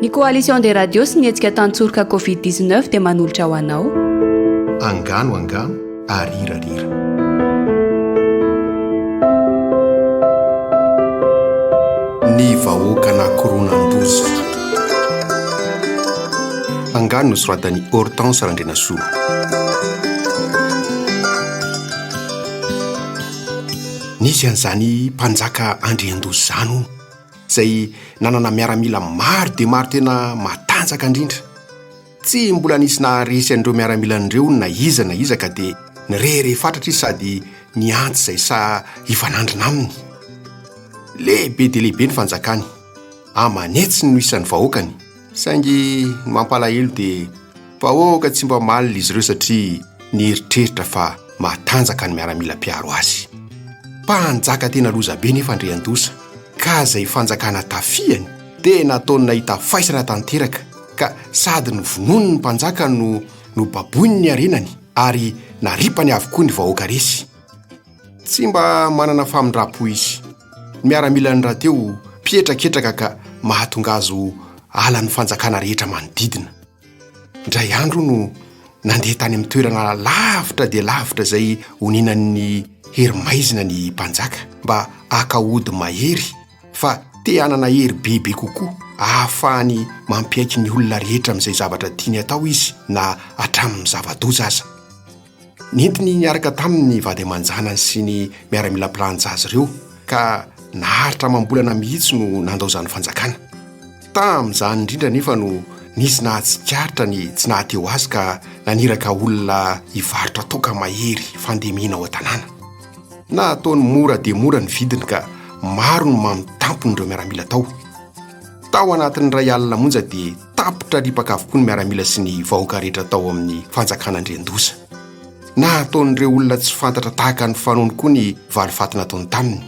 Ny Coalition des Radios sy ny hetsika Tantsoroka Covid 19 dia manolotra ho anao. Angano angano ary rira rira. Ny vahoaka na koronandoza. Angano nosoratan'i Hortense Randrianasoa. Nisy an'izany mpanjaka Andriandoza izany hono, izay nanana miaramila maro dia maro tena matanjaka indrindra. Tsy mbola nisy naharesy an'ireo miaramilany ireo na iza na iza ka dia nirehareha fatratra izy sady nihantsy izay saha hifanandrina aminy. Lehibe dia lehibe ny fanjakany. Aman'hetsiny no isan'ny vahoakany. Saingy ny mampalahelo dia vahoaka tsy mba malina izy ireo satria nieritreritra fa matanjaka ny miaramila mpiaro azy. Mpanjaka tena lozabe nefa Andriandoza ka izay fanjakana tafihany dia nataony nahita faisana tanteraka ka sady novonoiny ny mpanjaka no nobaboiny ny harenany ary naripany avokoa ny vahoaka resy. Tsy mba manana famindram-po izy. Ny miaramilan'ny rahateo mpihetraketraka ka mahatonga azy ho halan'ny fanjakana rehetra manodidina. Indray andro hono nandeha tany amin'ny toerana lavitra dia lavitra izay onenan'ny hery maizina ny mpanjaka mba haka ody mahery fa te hanana hery bebe kokoa ahafahany mampiaiky ny olona rehetra amin'izay zavatra tiany atao izy na hatramin'ny zava-doza aza. Nentiny niaraka taminy ny vady aman-janany sy ny miaramila mpilanja azy ireo, ka naharitra amam-bolana mihitsy no nandao izany fanjakana. Tamin'izany indrindra anefa no nisy nahatsikaritra ny tsy nahateo azy ka naniraka olona hivarotra toaka mahery fandemena ao an-tanàna. Nataony mora dia mora ny vidiny ka maro ny mamo tampon'ireo miaramila tao. Tao anatin'ny iray alina monja dia tapitra ripaka avokoa ny miaramila sy ny vahoaka rehetra tao amin'ny fanjakana andriandoza na hataon'ireo olona tsy fantatra tahaka ny fanony koa ny valifatina ataony taminy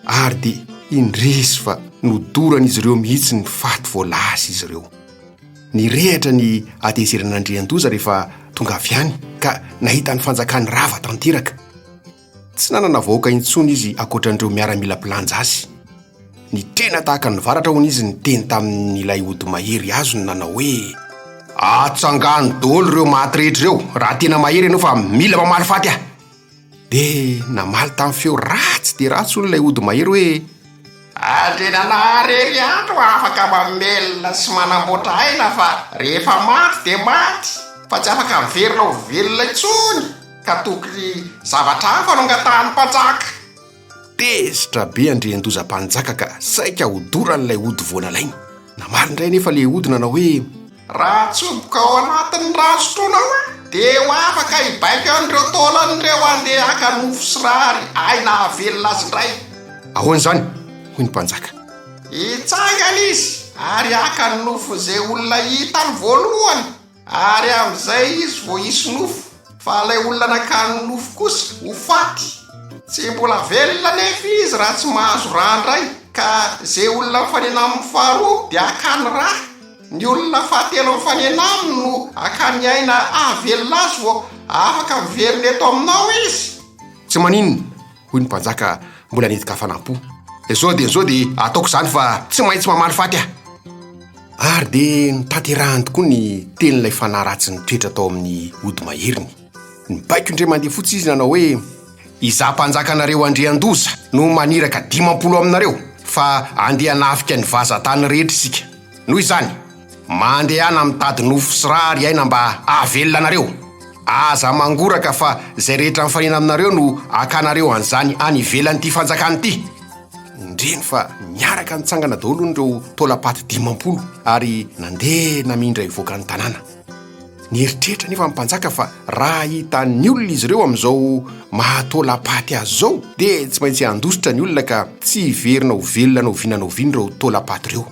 ary dia indresy fa nodorany izy ireo mihitsy ny faty voalaza izy ireo ny rehatra ny atezeran'andriandoza rehefa tonga avy any ka nahita ny fanjakany rava tanteraka Tsy nanana vahoaka intsony izy ankoatran'ireo miaramila mpilanja azy. Nitrena tahaka ny varatra, hono, izy niteny tamin'ilay ody mahery azony nanao hoe, Atsangano daholo ireo maty rehetra ireo raha tena mahery ianao fa mila mamaly faty aho! Dia namaly tamin'ny feo ratsy dia ratsy, hono, ilay ody mahery hoe, Ary dia nanary heriandro afaka mamelona sy manamboatra aina fa rehefa maty dia maty fa tsy afaka miverina ho velona intsony ka tokony zavatra hafa no angatahan'ny mpanjaka. Tezitra be Andriandoza mpanjaka ka saika hodoran'ilay ody voanalainy. Namaly indray anefa le ody nanao hoe. Raha atsoboka ao anatin'ny rano sotroinao aho, dia ho afaka hibaiko an'ireo taolan'ireo handeha haka nofo sy rary ahy nahavelona azy indray. Ahoana izany? hoy ny mpanjaka. Hitsangana izy ary haka ny nofon'izay olona hitany voalohany, ary amin'izay izy vao hisy nofo, fa ilay olona nakany nofo kosa ho faty. Tsy mbola velona anefa izy raha tsy mahazo rà indray, ka izay olona mifanena aminy faharoa dia hakany rà. Ny olona fahatelo mifanena aminy no hakany aina hahavelona azy vao afaka miverina eto aminao izy. Tsy maninona, hoy ny mpanjaka mbola nidika hafanam-po. Izao dia izao dia ataoko izany fa tsy maintsy mamaly faty aho. Ary dia notanterahany tokoa ny tenin'ilay fanahy ratsy nitoetra tao amin'ny ody maherin'ny. Nibaiko indray mandeha fotsy izy nanao hoe, Izaho mpanjakanareo Andriandoza no maniraka dimampolo aminareo fa andeha hanafika ny vazan-tany rehetra isika. Noho izany, mandehana mitady nofo sy ra ry aina mba hahavelona anareo. Aza mangoraka fa izay rehetra mifanena aminareo no hakanareo an'izany any ivelan'ity fanjakana ity. Indreny fa niaraka nitsangana daholo hono ireo taolam-paty dimampolo ary nandeha namindra hivoaka ny tanàna. Nieritreritra anefa ny mpanjaka fa raha hitan'ny olona izy ireo amin'izao maha-taolam-paty azy izao, dia tsy maintsy handositra ny olona ka tsy hiverina ho velona na oviana na oviana ireo taolam-paty ireo.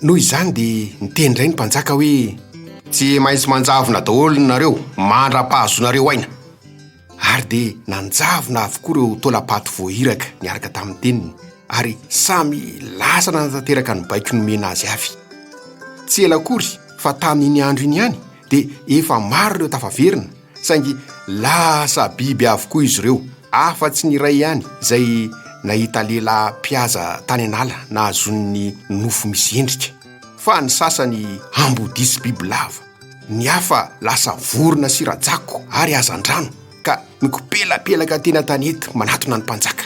Noho izany dia niteny indray ny mpanjaka hoe. Tsy maintsy manjavona daholo nareo mandra-pahazoanareo aina. Ary dia nanjavona avokoa ireo taolam-paty voairaka niaraka tamin'ny teniny, ary samy lasa nanatanteraka ny baiko nomena azy avy. Tsy ela akory fa tamin'iny andro iny ihany dia efa maro ireo tafaverina, saingy lasa biby avokoa izy ireo, afa-tsy ny iray ihany izay nahita lehilahy mpihaza tany an'ala nahazoany ny nofo misy endrika, fa ny sasany ambodia sy bibilava. Ny hafa lasa vorona sy rajako ary hazandrano ka mikopelapelaka teny an-tanety manatona ny mpanjaka.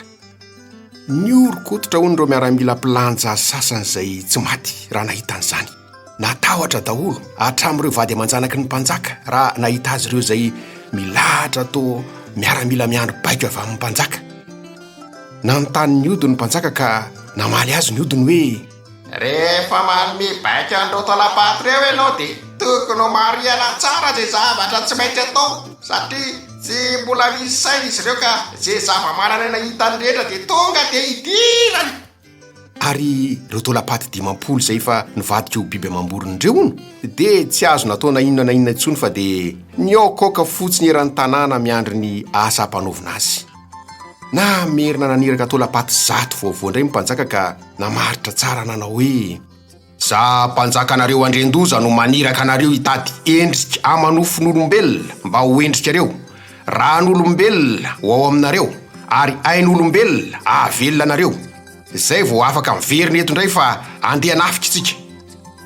Nihoron-koditra hono ireo miaramila mpilanja sasany izay tsy maty raha nahita an'izany. Natahotra daholo hatramin'ireo vady aman-janaky ny mpanjaka raha nahita azy ireo izay milahatra toa miaramila miandry baiko avy amin'ny mpanjaka. Nanontany ny ody ny mpanjaka ka namaly azy ny odiny hoe. Rehefa manome baiko an'ireo tolabato ireo ianao dia tokony ho marihana tsara izay zavatra tsy maintsy atao satria tsy mbola misy saina izy ireo ka izay zava-manan'aina hitany rehetra dia tonga dia hidirany. Ary ireo tolapaty dimampolo izay efa nivadika ho biby amam-borona ireo hono dia tsy azo natao na inona na inona intsony fa dia nihaokaoka fotsiny eran'ny tanàna miandry ny asa hampanaovina azy. Namerina naniraka tao Lapaty Zato vaovao indray ny mpanjaka ka namaritra tsara nanao hoe. Za mpanjakanareo Andriandoza no maniraka anareo hitady endrika amanofon'olombelona mba ho endrikareo, ran'olombelona ho ao aminareo ary ain'olombelona ahavelona anareo. Izay vao afaka miverina eto indray fa andeha hanafika isika.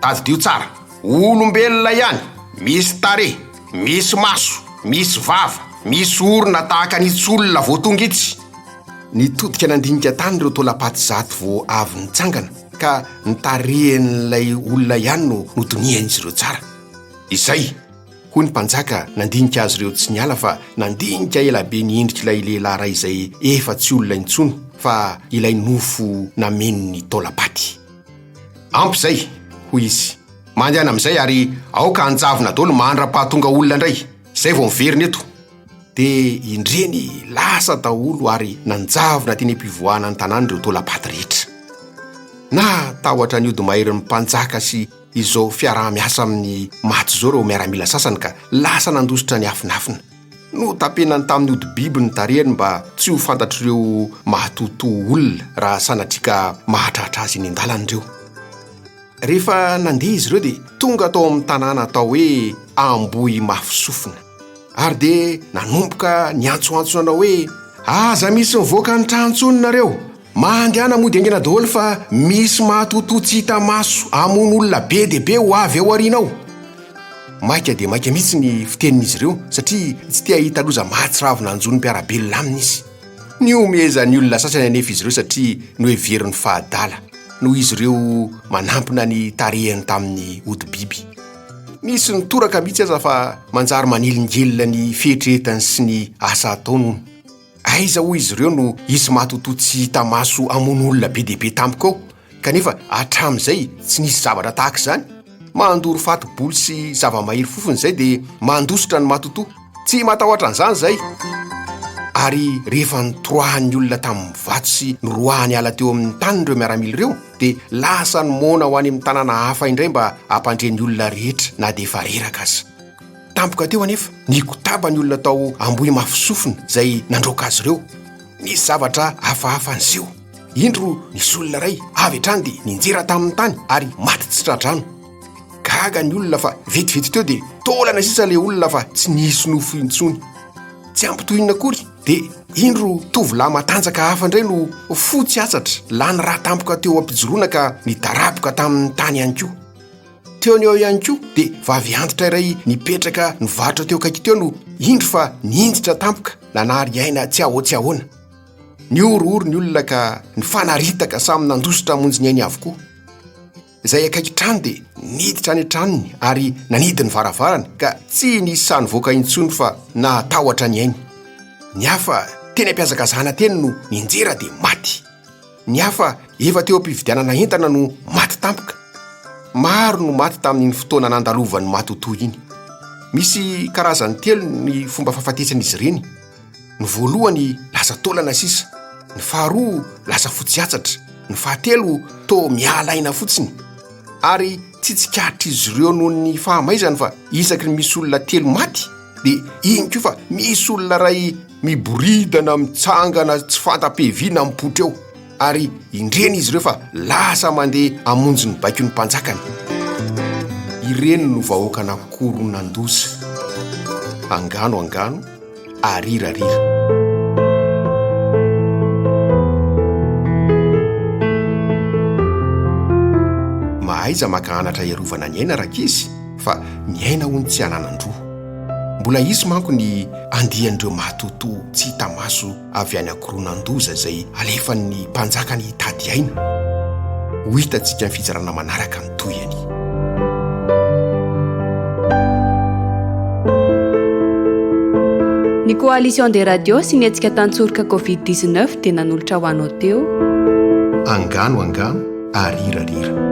Tadidio tsara, olombelona ihany, misy tarehy, misy maso, misy vava, misy orona tahaka ny tsy olona vao tonga itsy. Nitodika nandinika tany ireo taolam-paty zato vao avy nitsangana ka ny tarehin'ilay olona ihany no nodinihan'izy ireo tsara. Izay! Hoy ny mpanjaka nandinika azy ireo tsy niala fa nandinika ela be ny endrik'ilay lehilahy iray izay efa tsy olona intsony fa ilay nofo nameno ny taolam-paty. Ampy izay, hoy izy. Mandehana amin'izay ary aoka hanjavona daholo mandra-pahatonga olona indray. Izay vao miverina eto. Dia indreny lasa daholo ary nanjavona teny am-pivoahana ny tanàna ireo taolam-paty rehetra. Natahotra ny hodi-maherin'ny mpanjaka sy. izao fiaraha-miasa amin'ny maty izao ireo miaramila sasany ka lasa nandositra niafinafina. Notapenany tamin'ny hodi-biby ny tarehiny mba tsy ho fantatr'ireo mahatohotoho olona raha sanatria ka mahatratra azy eny an-dalana ireo. Rehefa nandeha izy ireo dia tonga tao amin'ny tanàna atao hoe Ambohimafisofina. Ary dia nanomboka niantsoantso nanao hoe, Aza misy mivoaka ny trano intsony nareo! Mandehana mody aingana daholo fa misy matotoa tsy hita maso hamono olona be dia be ho avy ao aoriana ao! Maika dia maika mihitsy ny fitenin'izy ireo satria tsy te hahita loza mahatsiravina hanjo ny mpiara-belona aminy izy. Nihomehezan'ny olona sasany anefa izy ireo satria noheverin'ny fahadala, noho izy ireo manampina ny tarehiny tamin'ny hodi-biby. Misy ny toraka mihitsy aza fa manjary manelingelina ny fihetrehetany sy ny asa ataony hono. Aiza hoy izy ireo no hisy matotoa tsy hita maso hamono olona be dia be tampoka ao kanefa hatramin'izay tsy nisy zavatra tahaka izany? Mandoro fati-bolo sy zava-mahery fofona izay dia mandositra ny matotoa. Tsy matahotra an'izany izay. Ary rehefa nitoroahan'ny olona tamin'ny vato sy noroahany hiala teo amin'ny taniny ireo miaramila ireo, dia lasa ny moana ho any amin'ny tanàna hafa indray mba hampandre ny olona rehetra na dia efa reraka aza. Tampoka teo anefa, nikotaba ny olona tao Ambohimafisofina izay nandroaka azy ireo. Nisy zavatra hafahafa niseho. Indro nisy olona iray avy hatrany dia ninjera tamin'ny tany ary maty tsy tra-drano. Gaga ny olona fa vetivety teo dia taolana sisa ilay olona fa tsy nisy nofo intsony. Tsy ampy tohinina akory Dia indro tovolahy matanjaka hafa indray no fo tsy atsatra, lany rà tampoka teo am-pijoroana ka nidaraboka tamin'ny tany ihany koa. Teo ny eo ihany koa dia vavy antitra iray nipetraka nivarotra teo akaiky teo no indro fa ninditra tampoka nanary aina tsy ahoa tsy ahoana. Nihorohoro ny olona ka nifanaritaka samy nandositra hamonjy ny ainy avokoa. izay akaiky trano dia niditra any an-tranony ary nanidy ny varavarany ka tsy nisy sahy nivoaka intsony fa nahatahotra ny ainy. Ny hafa teny am-pihazakazahana teny no nianjera dia maty. Ny hafa efa teo am-pividianana entana no maty tampoka. Maro no maty tamin'iny fotoana nandalovan'ny matotoa iny. Misy karazany telo ny fomba fahafatesan'izy ireny. ny voalohany lasa taolana sisa ny faharoa lasa fotsy atsatra ny fahatelo to miala aina fotsiny ary tsy tsikaritr'izy ireo noho ny fahamaizany fa isaky ny misy olona telo maty dia iny koa fa misy olona ray miboridana mitsangana tsy fanta-piaviana mipoitra eo ary indreny izy ireo fa lasa mandeha amonjy ny baiko ny mpanjakany ireny no vahoaka na koronandoza angano angano arirarira mahaiza maka anatra iarovana ny aina raka izy fa ny aina ho ny tsy ananan-droa mbola hisy manko ny andihan'ireo mahatotoa tsy hitamaso avy any an-koronan-doza izay alefan'ny mpanjakany hitady aina. Ho hitantsika amin'ny fitsarana manaraka ny tohiny. Ny Coalition des Radios sy ny hetsika tantsoroka Covid 19 dia nanolotra ho anao teo. Angano angano ary hirarira.